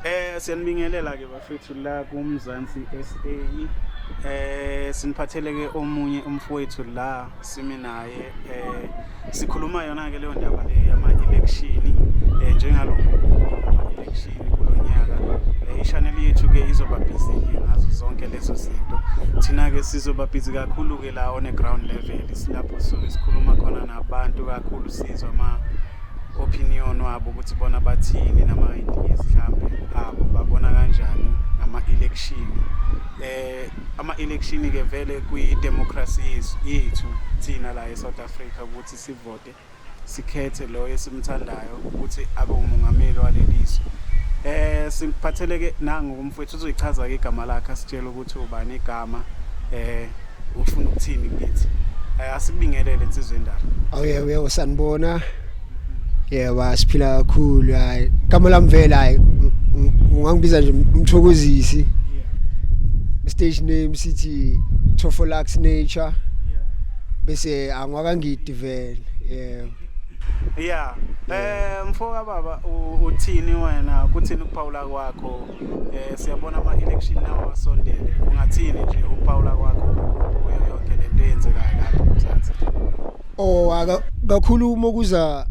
Eh siyanibingelela ke bafethu la kuMzansi SA. Eh siniphatheleke omunye umfowethu la simi naye eh sikhuluma yona ke leyo ndaba le yama election eh njengalokho ama election kulonyaka. Eh ichannel yethu ke izoba busy ngazo zonke lezo zinto. Thina ke sizoba busy kakhulu ke la on a ground level silapho sikhuluma khona nabantu kakhulu sizwa ama opinion wabo ukuthi bona bathini nama-ideas mhlampe abo babona kanjani ngama-election eh ama-election ke vele kwi-democracy yethu thina la e-south africa ukuthi sivote sikhethe loyo esimthandayo ukuthi abe umongameli waleli zwe um eh, siphatheleke nangokumfowethu uzoyichaza-ke igama lakhe asitshele ukuthi ubani igama eh ufuna ukuthini kithi eh, asibingelele insizwe endala awuye uye usanibona yebo asiphila kakhulu hayi igama lami vele hayi ungangibiza nje umthokozisi stage name sithi Tofolax Nature bese angwakangidi vele yebo yeah eh mfoka baba uthini wena kuthini ukuphawula kwakho eh siyabona ama election lawa wasondele ungathini nje uPaula kwakho kuyo yonke lento eyenzekayo lapha eMzansi oh aka kakhulu uma kuza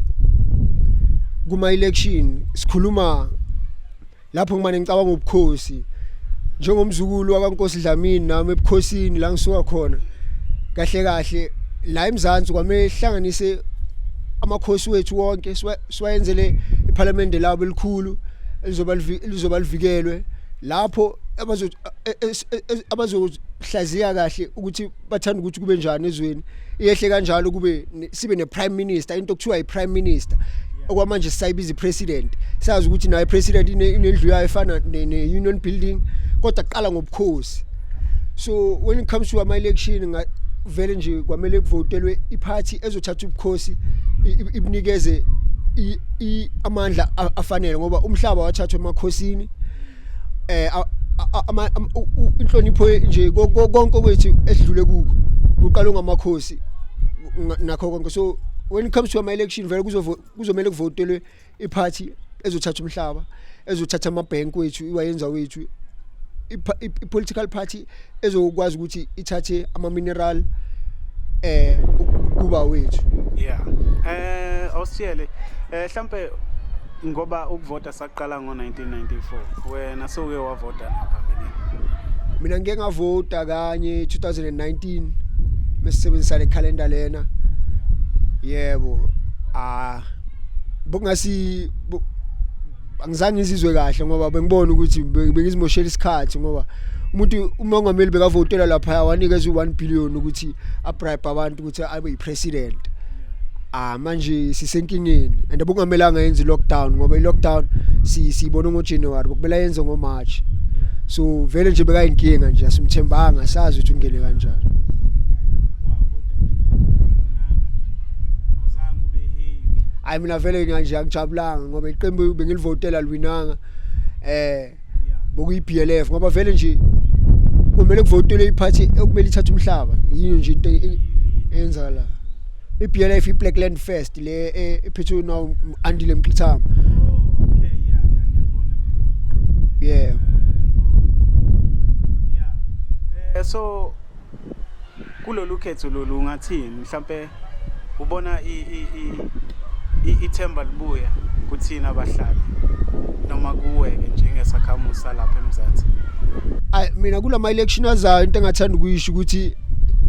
kuma election sikhuluma lapho ngimane ngicabanga ubukhosi njengomzukulu wakaNkosi Dlamini nami ebukhosini la ngisuka khona kahle kahle la eMzansi kwamehlanganise amakhosi wethu wonke siwayenzele iphalamende labo elikhulu elizoba lizoba livikelwe lapho abazo e, e, e, abazohlaziya kahle ukuthi bathanda ukuthi kube njani ezweni iyehle kanjalo kube sibe ne prime minister into okuthiwa i prime minister okwamanje sisayibiza ipresident sazi ukuthi naye president inendlu yayo efana ne union building kodwa qala ngobukhosi so when it comes to ama election vele nje kwamele kuvotelwe iphathi ezothatha ubukhosi ibunikeze amandla afanele ngoba umhlaba wathathwa emakhosini eh inhlonipho nje konke kwethu esidlule kuko kuqala ngamakhosi nakho konke so when it comes to ama election vele kuzomele kuvotelwe iphathi ezothatha umhlaba ezothatha amabhenki wethu iwayenza wethu i-political party ezokwazi ukuthi ithathe ama-mineral eh kuba wethu yeah eh awusiyele eh mhlambe ngoba ukuvota saqala ngo 1994 wena sowuke wavota ngaphambilini mina ngike ngavota kanye 2019 mesisebenzisa le calendar lena yebo ah bokungasi angizange ngizizwe kahle ngoba bengibona ukuthi bengizimoshela isikhathi ngoba umuntu umongameli bekavotela lapha wanikeza u1 billion ukuthi abribe abantu ukuthi abe yipresident ah manje sisenkingeni and bungamelanga yenze lockdown ngoba ilockdown si sibona ngo January bokumela yenze ngo March so vele nje bekayinkinga nje asimthembanga sazi ukuthi ungene kanjani hayi mina vele nganje angijabulanga ngoba iqembu bengilivotela liwinanga eh bokuyi BLF ngoba vele nje kumele kuvotele iphathi okumele ithathe umhlaba yini nje into enza la i BLF i Black Land Fest le e, ephethwe now andile mqithama yeah so kulolu khetho lolu ngathini mhlambe ubona ithemba libuya kuthina abahlali noma kuweke njengesakhamuzi salapha eMzansi ay mina kulama election azayo into engathanda ukuyisho ukuthi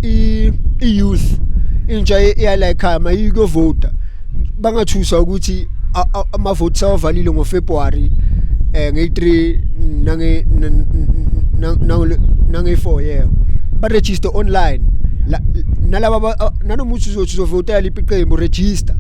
i youth intsha iyala ekhaya mayikuyovota bangathusa ukuthi amavoti sawavalile ngoFebruary eh nge3 nange nange nange4 yeah ba register online nalaba nanomuthi uzothi uzovotela liphi iqembu register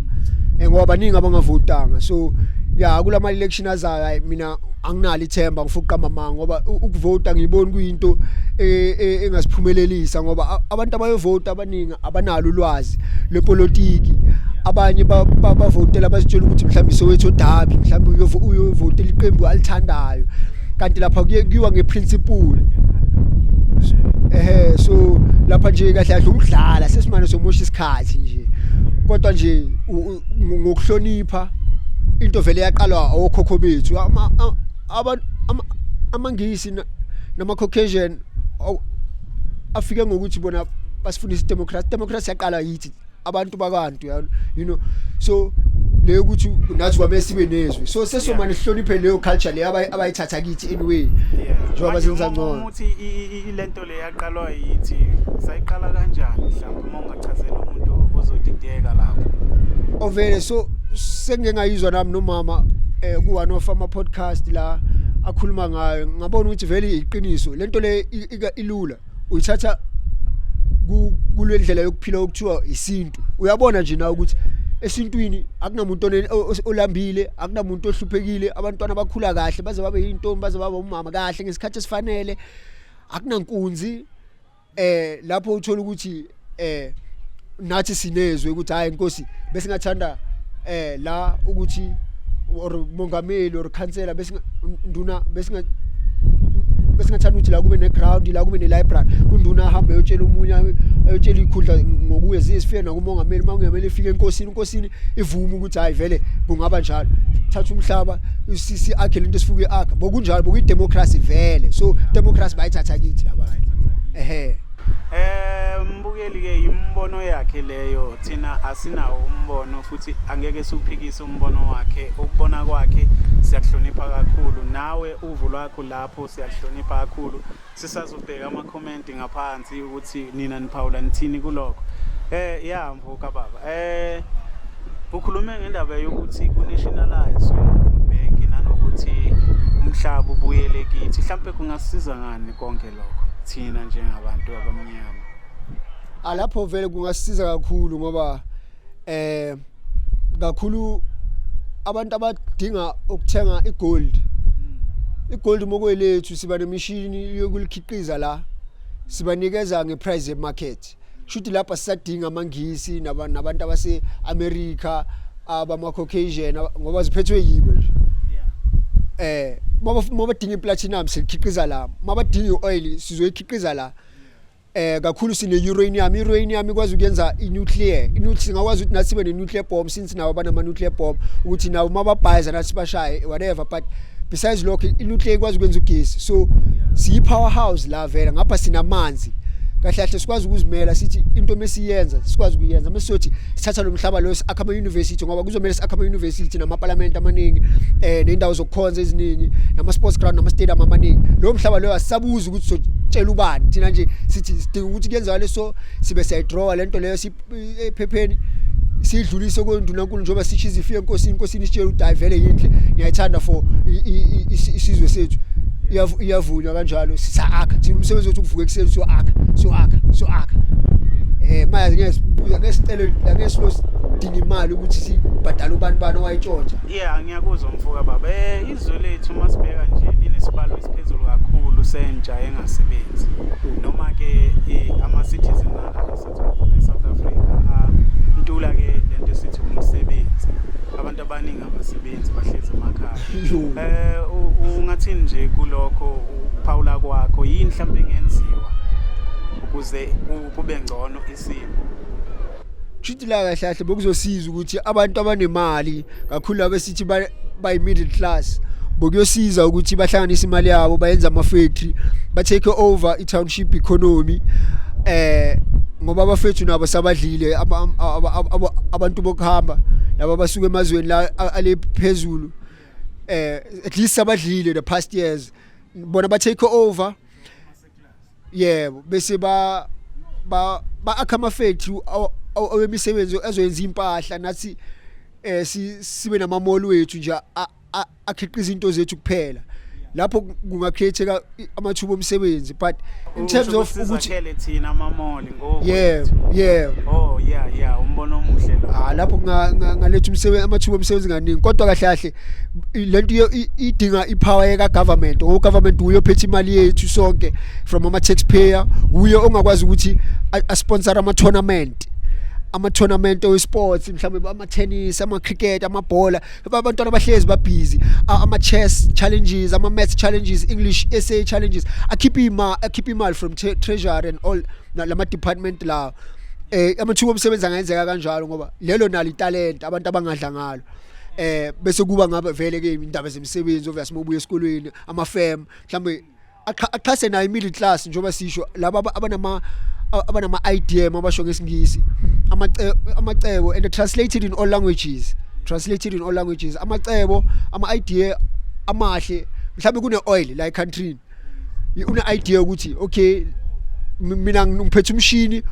eh, ngoba baningi abangavotanga so ya kulama election azayo mina anginalo ithemba ngifuqa amanga ngoba ukuvota ngiyibona kuyinto e, e, engasiphumelelisa ngoba abantu abayovota abaningi abanalo ulwazi lwepolitiki abanye bavotela bazitshela ukuthi mhlawumbe sowethu odabi mhlawumbe uyovotela iqembu alithandayo kanti lapha kuye kuyiwa ngeprinciple ehe so lapha nje kahle kahle ukudlala sesimane somosha isikhathi nje kodwa nje ngokuhlonipha into vele yaqalwa okhokho bethu ama amangisi nama Caucasian afike ngokuthi bona basifundisa democracy democracy yaqala yithi abantu bakantu you know so leyo ukuthi nathi kwamele sibe nezwe so sesomane sihloniphe leyo culture leyo abayithatha kithi anyway njengoba senza ngcono ukuthi ilento leya Iqalwa yithi sayiqala kanjani mhlawumbe uma ungachazela umuntu ozodideka lapho. Ovele so sengengayizwa nami nomama eh ku one of ama podcast la akhuluma ngayo ngabona ukuthi vele iqiniso lento le ilula uyithatha kulendlela yokuphila okuthiwa isintu uyabona nje na ukuthi esintwini akunamuntu olambile akunamuntu ohluphekile abantwana bakhula kahle baze babe yintombi baze babe umama kahle ngesikhathi esifanele akunankunzi eh lapho uthola ukuthi eh nathi sinezwe ukuthi hayi inkosi bese ngathanda eh la ukuthi or mongameli or councillor bese nduna bese besingathanda ukuthi la kube ne-ground la kube ne-library unduna ahambe eyotshela omunye eyotshela ikhundla ngokuye zizifike nakumongameli uma kungamele ifike enkosini inkosini ivume ukuthi hayi vele kungaba njalo thatha umhlaba usisi akhe lento esifuke akhe bokunjalo bokuyi democracy vele so democracy bayithatha kithi labantu ehe Eh mbukeli ke imbono yakhe leyo thina asinawo umbono futhi angeke siphikise umbono wakhe ukubona kwakhe siyakuhlonipha kakhulu nawe uvu lwakho lapho siyakuhlonipha kakhulu sisazobheka amakhomenti ngaphansi ukuthi nina niphawula nithini kulokho eh ya mfo kababa eh ukhulume ngendaba yokuthi kunationalizwe bank nanokuthi umhlaba ubuyele kithi mhlambe kungasiza ngani konke lokho thina njengabantu abamnyama alapho vele kungasiza kakhulu ngoba eh kakhulu abantu abadinga ukuthenga igold hmm. igold mokwelethu siba nemishini yokulikhiqiza la sibanikeza ngeprice yemarket shuthi lapha sisadinga amangisi nabantu abase America abama Caucasian ngoba ziphethwe yibo nje eh mabadinga iplatinum sikhiqiza la mabadinga ioil sizoyikhiqiza la eh kakhulu sine uranium uranium ikwazi ukuyenza inuclear inuclear singakwazi ukuthi nathi sibe ne nuclear bomb since nawo banama nuclear bomb ukuthi nawo mababhayiza nathi bashaye whatever but besides lokho inuclear ikwazi ukwenza ugesi so siyi power house la vela ngapha sinamanzi kahle kahle sikwazi ukuzimela sithi into mesiyenza sikwazi ukuyenza mesiyothi sithatha lo mhlaba lo akha ama university ngoba kuzomela sakha ama university nama parliament amaningi eh nendawo zokukhonza eziningi nama sports ground nama stadium amaningi lo mhlaba lo asabuzi ukuthi sotshela ubani thina nje sithi sidinga ukuthi kuyenzeka leso sibe siyayidrawa lento leyo siphepheni eh, sidlulise kondunankulu njengoba sisho izifi enkosini inkosini isitshela ukuthi hayi vele yinhle ngiyayithanda for isizwe sethu iyavunywa kanjalo sisakha thina umsebenzi wethu ukuvuka ekuseni siyoakha siyoakha siyoakha eh manje ngesibuza ngesicelo ngesilo sidinga imali ukuthi sibhadale ubani bani owayitshontsha yeah ngiyakuzwa mfoka baba eh Izwe lethu uma sibheka nje linesibalo esiphezulu kakhulu sentsha engasebenzi noma-ke eh, ama-citizen e-south africa antula ke le nto esithi umsebenzi abantu abaningi abasebenzi bahlezi emakhaya um ungathini nje kulokho ukuphawula kwakho yini mhlawumbe engenziwa ukuze kube ngcono isimo shidila kahle kahle bokuzosiza ukuthi abantu abanemali kakhulu abesithi bayi middle class bokuyosiza ukuthi bahlanganise imali yabo bayenze ama factory ba take over i township economy eh ngoba abafethu nabo sabadlile abantu bokuhamba laba basuka emazweni la ale phezulu eh at least sabadlile the past years bona ba take over yebo bese ba ba akha ama factory awemisebenzi ezoyenza impahla nathi eh sibe nama mall wethu nje akhiqiza into zethu kuphela lapho kungacreateka amathuba omsebenzi but in terms of ukuthi thina ama mall yebo yebo oh yeah yeah umbono omuhle lo ah lapho ngaletha umsebenzi amathuba omsebenzi kaningi kodwa kahle kahle lento idinga ipower yeka government o government uyo phethe imali yethu sonke from ama taxpayer uyo ongakwazi ukuthi a sponsor ama tournament ama tournament we sports mhlawumbe ama tennis ama cricket amabhola abantwana bahlezi babhizi ama chess challenges ama maths challenges english essay challenges akhipha imali akhipha imali from treasury and all lama department lawo eh amathuba omsebenzi angenzeka kanjalo ngoba lelo nalo italent abantu abangadla ngalo eh bese kuba ngabe vele ke indaba zemisebenzi obvious mobuye esikolweni ama firm mhlambe axhase nayo imiddle class njengoba sisho laba abanama abanama IDM abasho ngesingisi amacebo and translated in all languages translated in all languages amacebo ama idea amahle mhlawumbe kune oil la ecountry une idea ukuthi okay mina ngiphethe umshini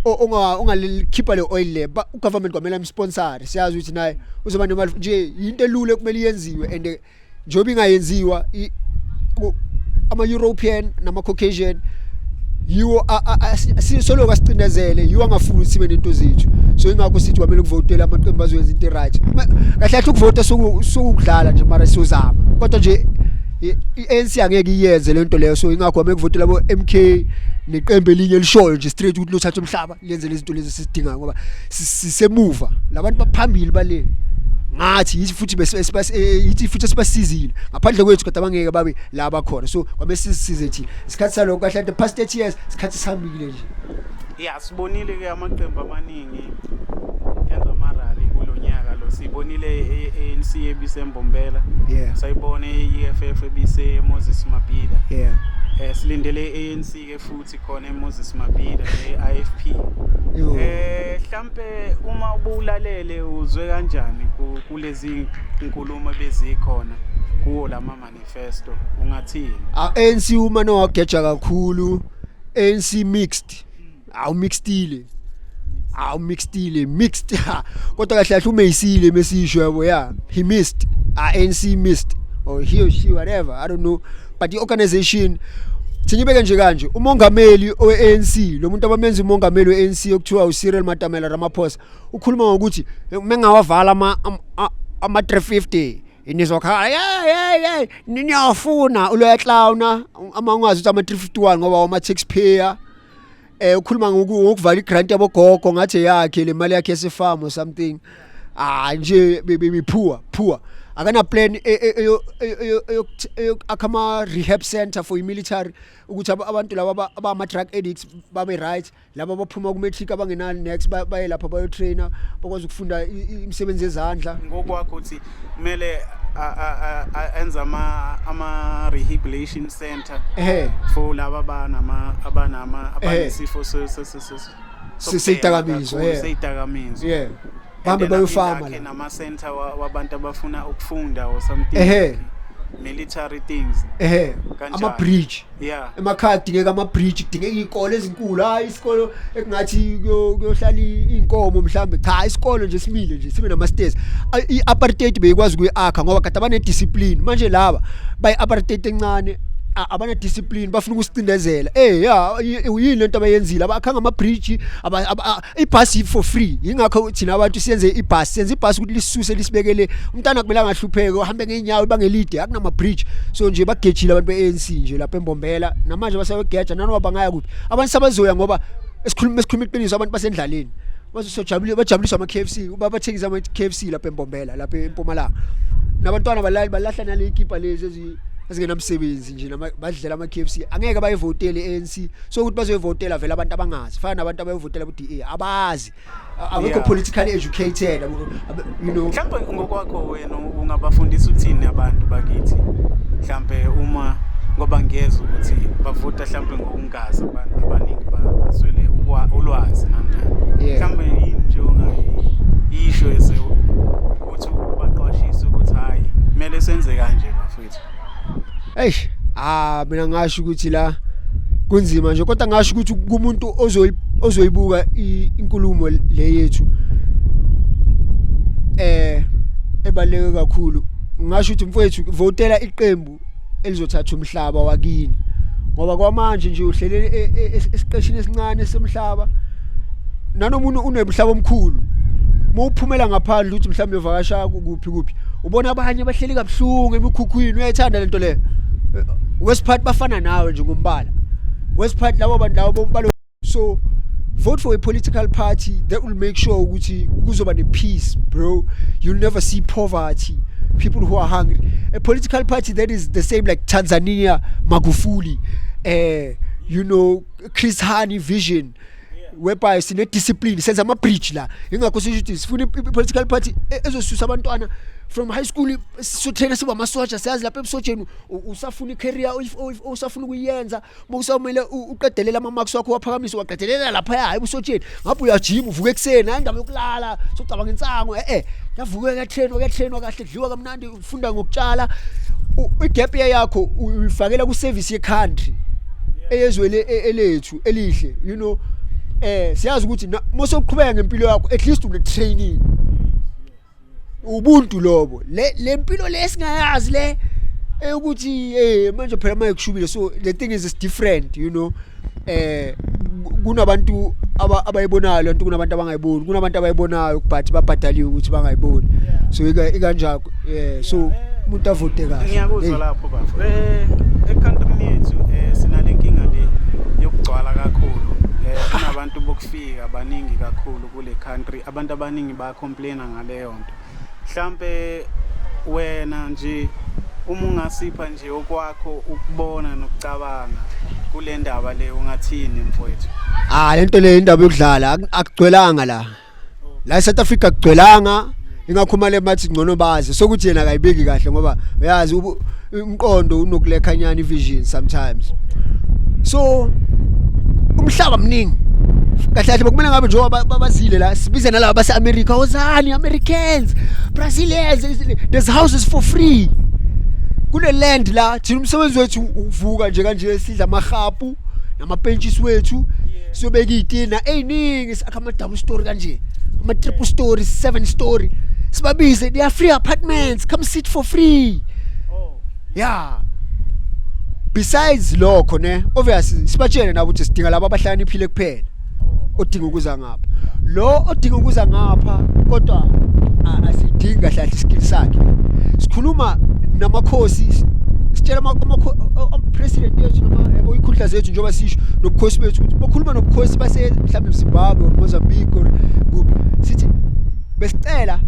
onga ongalikhipha le oil le ugovernment kwamela imsponsor siyazi ukuthi naye uzoba nemali nje into elule kumele yenziwe and njengoba ingayenziwa ama-european nama-caucasian yiwo sisoloku asicindezele yiwo angafuni sibe nento zethu so ingakho sithi kwamele kuvotele amaqembu azoyenza into right kahle kahle ukuvota sokudlala nje mara siyozama kodwa nje i-ANC angeke iyenze lento leyo so ingakho kwamele kuvotela bo-MK neqembu elinye elishoyo nje straight ukuthi lothatha umhlaba lenze lezinto lezi sisidingayo ngoba sisemuva labantu baphambili bale ngathi yithi futhi eh, yithi futhi sibasizile ngaphandle kwethu kodwa abangeke babe la bakhona so kwabe sisize thina isikhathi salokho kahle the past 8 years isikhathi sihambile nje ya sibonile ke amaqembu amaningi enza amarali kulo nyaka lo sibonile ANC e, e ebisembombela yeah sayibone iEFF ebise Moses Mabhida yeah eh silindele ANC ke futhi sikhona eMoses Mabhida e-IFP eh mhlambe uma ubulalele uzwe kanjani kulezi inkulumo bezikhona kuwo lama manifesto ungathini ANC uma nowageja kakhulu ANC mixed awu mixtile awu mixedile mixed kodwa kahle kahle umeyisile mesisho yabo yeah he missed ANC missed or he or she whatever i don't know but the organization Sinyibeke nje kanje umongameli oweANC lo muntu abamenza umongameli weANC okuthiwa uCyril Matamela Ramaphosa ukhuluma ngokuthi eh, mengawavala ama ama 350 nizokhala yeah yeah yeah niyafuna uloya clowna amangwazi ukuthi ama 351 ngoba wama taxpayer eh ukhuluma ngoku- ngokuvala igrant yabogogo ngathi eyakhe le mali yakhe yesifamu or something ah nje be- be- be poor poor akana plan e- e- eyo- eyo- eyo- eyo- eyo- akha ama rehab center for military ukuthi aba- abantu laba aba- abama drug addicts babe right laba baphuma ku matric abangenali next ba- baye lapha bayo trainer bakwazi ukufunda i- i- imisebenzi yezandla ngokwakho uthi kumele enza ama ama rehabilitation center eh for laba banama abanama abanesifo sesidakamizwa eh sesidakamizwa yeah bahambe bayofama la nama center wabantu abafuna ukufunda or something eh military things eh ama bridge yeah emakhaya kudingeka ama bridge kudingeka izikole ezinkulu hayi isikole ekungathi kuyohlala inkomo mhlambe cha isikole nje simile nje sibe nama stairs i apartheid beyikwazi kuyiakha ngoba kade abane discipline manje laba bayi apartheid encane abana discipline bafuna ukusicindezela eh ya yini lento abayenzile abakhanga ama bridge ibhasi for free yingakho thina abantu siyenze ibhasi senze ibhasi ukuthi lisuse lisibekele umntana kumele angahlupheke uhambe ngeenyawo ibangelide akunama-bridge so nje bagejile abantu be-anc nje lapha embombela namanje basayogeja nanoba bangaya kuphi abantu sabazoya ngoba esikhuluma esikhuluma iqiniso abantu basendlaleni bazosojabule bajabuliswa ama KFC uba bathengisa ama KFC lapha eMbombela lapha eMpumalanga nabantwana balali balahla nale ikipa lezi ezingenamsebenzi nje nama- badlela ama KFC angeke bayivotele ANC so ukuthi bazoyivotela vele abantu abangazi fana nabantu abayivotela ku DA abazi A- abekho Yeah. politically educated abo- abe- you know mhlawumbe ngokwakho wena ungabafundisa uthini abantu bakithi mhlawumbe uma ngoba ngiyeza ukuthi bavota mhlawumbe ngokungazi abantu abaningi ba- baswele ukwa- ulwazi namnani Yeah. mhlawumbe yini nje ongayisho ese ukuthi ubaqwashise ukuthi hhayi kumele senze kanje bafethu eish ah mina ngasho ukuthi la kunzima nje kodwa ngasho ukuthi kumuntu ozoyi ozoyibuka inkulumo le yethu eh ebaleke kakhulu ngasho ukuthi mfowethu votela iqembu elizothatha umhlaba wakini ngoba kwamanje nje uhlele e, e, e, esiqeshini esincane semhlaba nanomuntu unemhlaba omkhulu mawuphumela ngaphandle ukuthi mhlawumbe uvakasha kuphi kuphi ubona abanye bahleli kabuhlungu emikhukhwini uyayithanda lento leyo wesiphathi bafana nawe nje ngombala wesiphathi labo bantu labo bombala so vote for a political party that will make sure ukuthi kuzoba ne-peace bro you'll never see poverty people who are hungry a political party that is the same like tanzania magufuli uh, you know chris hani vision whereby sine discipline senza ama bridge la ingakho sisho ukuthi sifuna political party e, ezosusa abantwana from high school sisothena siba amasoja siyazi lapha ebusojeni usafuna icareer usafuna ukuyenza bokusawumele uqedelela ama marks wakho waphakamisa waqedelela lapha hayi ebusojeni ngapha uyajima uvuka ekuseni hayi indaba yokulala socabanga insango eh eh yavuka yatrainwa yatrainwa kahle dliwa kamnandi funda ngokutshala u- igap year yakho u- uyifakela ku service ye country eyezwe le- e- elethu elihle you know eh siyazi ukuthi na- mose uqhubeka ngempilo yakho at least une training ubuntu lobo le lempilo lesingayazi le eh, ukuthi eh manje phela mayekushubile so the thing is it's different you know eh kunabantu abayibonayo lento kunabantu abangayiboni kunabantu abayibonayo but babhadaliwe ukuthi bangayiboni so ikanjalo eh so umuntu avote kahle ngiyakuzwa lapho bafo eh ekhantini yethu eh sinale nkinga le yokugcwala kakhulu eh kunabantu bokufika abaningi kakhulu kule country abantu abaningi ba complain ngaleyo nto mhlampe wena nje uma ungasipha nje okwakho ukubona nokucabanga kule ndaba le ungathini mfowethu ah lento le indaba yokudlala ak- akugcwelanga la la eSouth Africa akugcwelanga ingakhumale mathi ngcono bazi sokuthi yena akayibeki kahle ngoba uyazi ubu- umqondo unokulekhanyana ivision sometimes so umhlaba mningi kahle kahle bekumele ngabe njengoba babazile la sibize nalaba base-america wozani americans brazilians there's houses for free kule land la thina umsebenzi wethu uvuka nje kanje sidla amahapu namapentshisi wethu siyobeka iy'tina ey'ningi sakha ama-double story kanje ama-triple story seven story sibabize they are free apartments come sit for free oh. yeah besides lokho ne obviously sibatshele nabo ukuthi sidinga labo abahlakaniphile kuphela odinga ukuza ngapha lo odinga ukuza ngapha kodwa asidingi kahle kahle iskill sakhe sikhuluma namakhosi sitshela ama-president yethu noma ikhundla zethu njengoba sisho nobukhosi bethu ukuthi bokhuluma nobukhosi base mhlawumbe mzimbabwe or mozambique or kuphi sithi besicela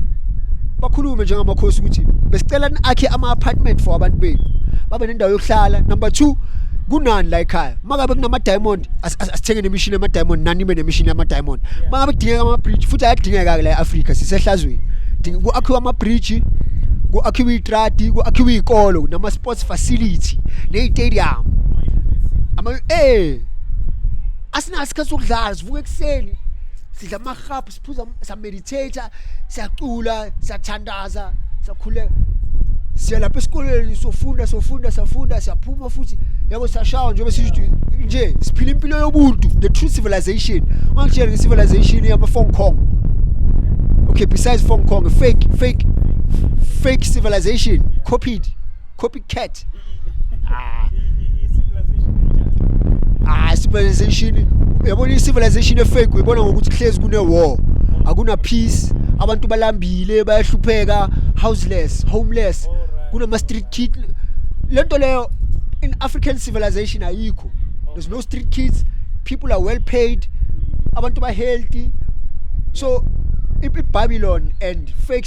bakhulume njengamakhosi ukuthi besicela akhe ama-apartment for abantu bethu babe nendawo yokuhlala number two kunani la ekhaya uma kabe kunama-diamond asithenge nemishini yama diamond nani ibe nemishini yama diamond mangabe kudingeka ama bridge futhi ayadingeka ke la eAfrica sisehlazweni ku akhiwa ama bridge ku akhiwa itradi ku akhiwa ikolo nama sports facility ne stadium ama eh asinasikhathi sokudlala sivuka ekseni sidla ama hubs phuza sameditate siyacula siyathandaza siyakhuleka siya lapha esikoleni sofunda sofunda safunda siyaphuma futhi yabo siyashawa njengoba sisho nje siphila impilo yobuntu the true civilization ungangitshela nge-civilization yama-fong kong okay besides fong kong fake fake fake civilization copied copycat ah ah civilization yabona i-civilization efake uyibona ngokuthi kuhlezi kune-war akuna peace abantu balambile bayahlupheka houseless homeless kunama-street kid le nto leyo in african civilization ayikho there's no street kids people are well paid abantu ba-healthy so i- i-babylon and fake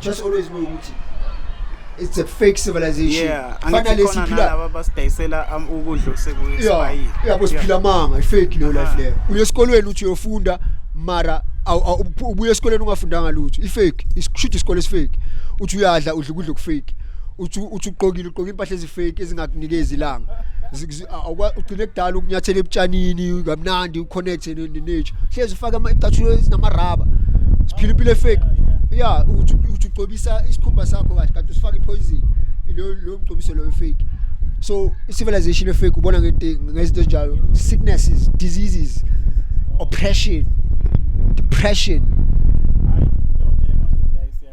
just always know ukuthi it's a fake civilization yeah fana lesiphila laba basidayisela um, ukudla osekuyisibayile yabo siphila manga ifake leyo life leyo uye esikolweni uthi uyofunda mara ubuye esikoleni ungafundanga lutho ifake ishuthi isikole esifake uthi uyadla udla ukudla okufake uthi uthi uqokile uqoka impahla ezifake ezingakunikezi ilanga ugcine kudala ukunyathela ebutshanini kamnandi uconnect nature hlezi ufake amacathulo ezinamaraba siphila impilo efake ya uthi ugcobisa isikhumba sakho kahle kanti usifaka ipoison lo lo mgcobiso lo fake so civilization efake ubona ngento ngezinto ezinjalo sicknesses diseases oppression depression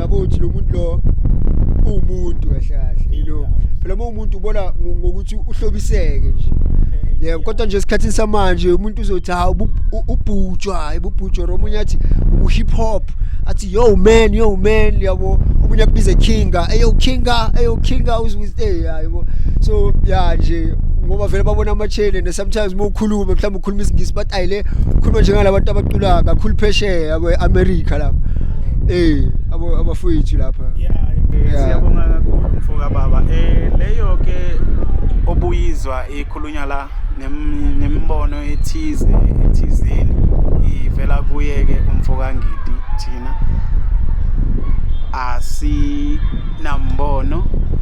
yabo uthi lo muntu lo uwumuntu kahle kahle you know phela uma umuntu ubona ngo- ngokuthi uhlobiseke nje yebo kodwa nje esikhathini samanje umuntu uzothi ha ubu- u- ubhutshwa ibubhutshwa or omunye athi ubu-hip hop athi yo man yo man yabo omunye akubize kinga eyo kinga eyo kinga uzwiste yabo so ya nje ngoba vele babona ama-channel and sometimes uma ukhuluma mhlawumbe khuluma isingisi but ayile khuluma njengalabantu abacula kakhulu phesheya kwe America lapha eh abo abafowethu lapha yeah siyabonga kakhulu mfoka baba eh leyo ke obuyizwa ikhulunywa la nemibono ethize ethizeni ivela kuye ke umfoka ngidi thina asinambono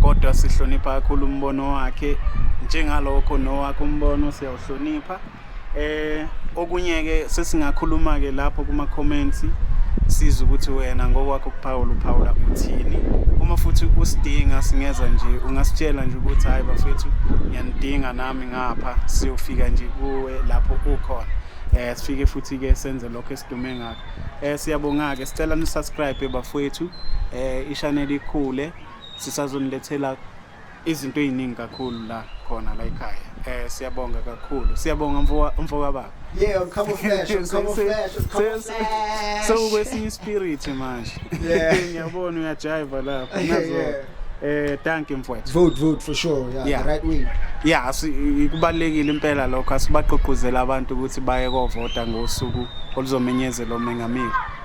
kodwa sihlonipha kakhulu umbono wakhe njengalokho nowakho umbono hlonipha eh okunye ke sesingakhuluma ke lapho kuma comments siza ukuthi wena ngokwakho ukuphawula uphawula uthini uma futhi usidinga singeza nje ungasitshela nje ukuthi hayi bafethu ngiyanidinga nami ngapha siyofika nje kuwe lapho ukhona eh sifike futhi ke senze lokho esidume ngakho eh siyabonga ke sicela ni subscribe bafethu eh i channel ikhule sisazonilethela izinto eziningi kakhulu la khona la ekhaya eh siyabonga kakhulu siyabonga mfoka baba yeah come on flash come on flash come on flash so kwesinye spirit manje ngiyabona uyajiva lapho nazo eh thank you mfowethu vote vote for sure yeah, yeah. the right way yeah kubalekile impela lokho asibaqoqozela abantu ukuthi baye kovota ngosuku oluzomenyezelwa umengameli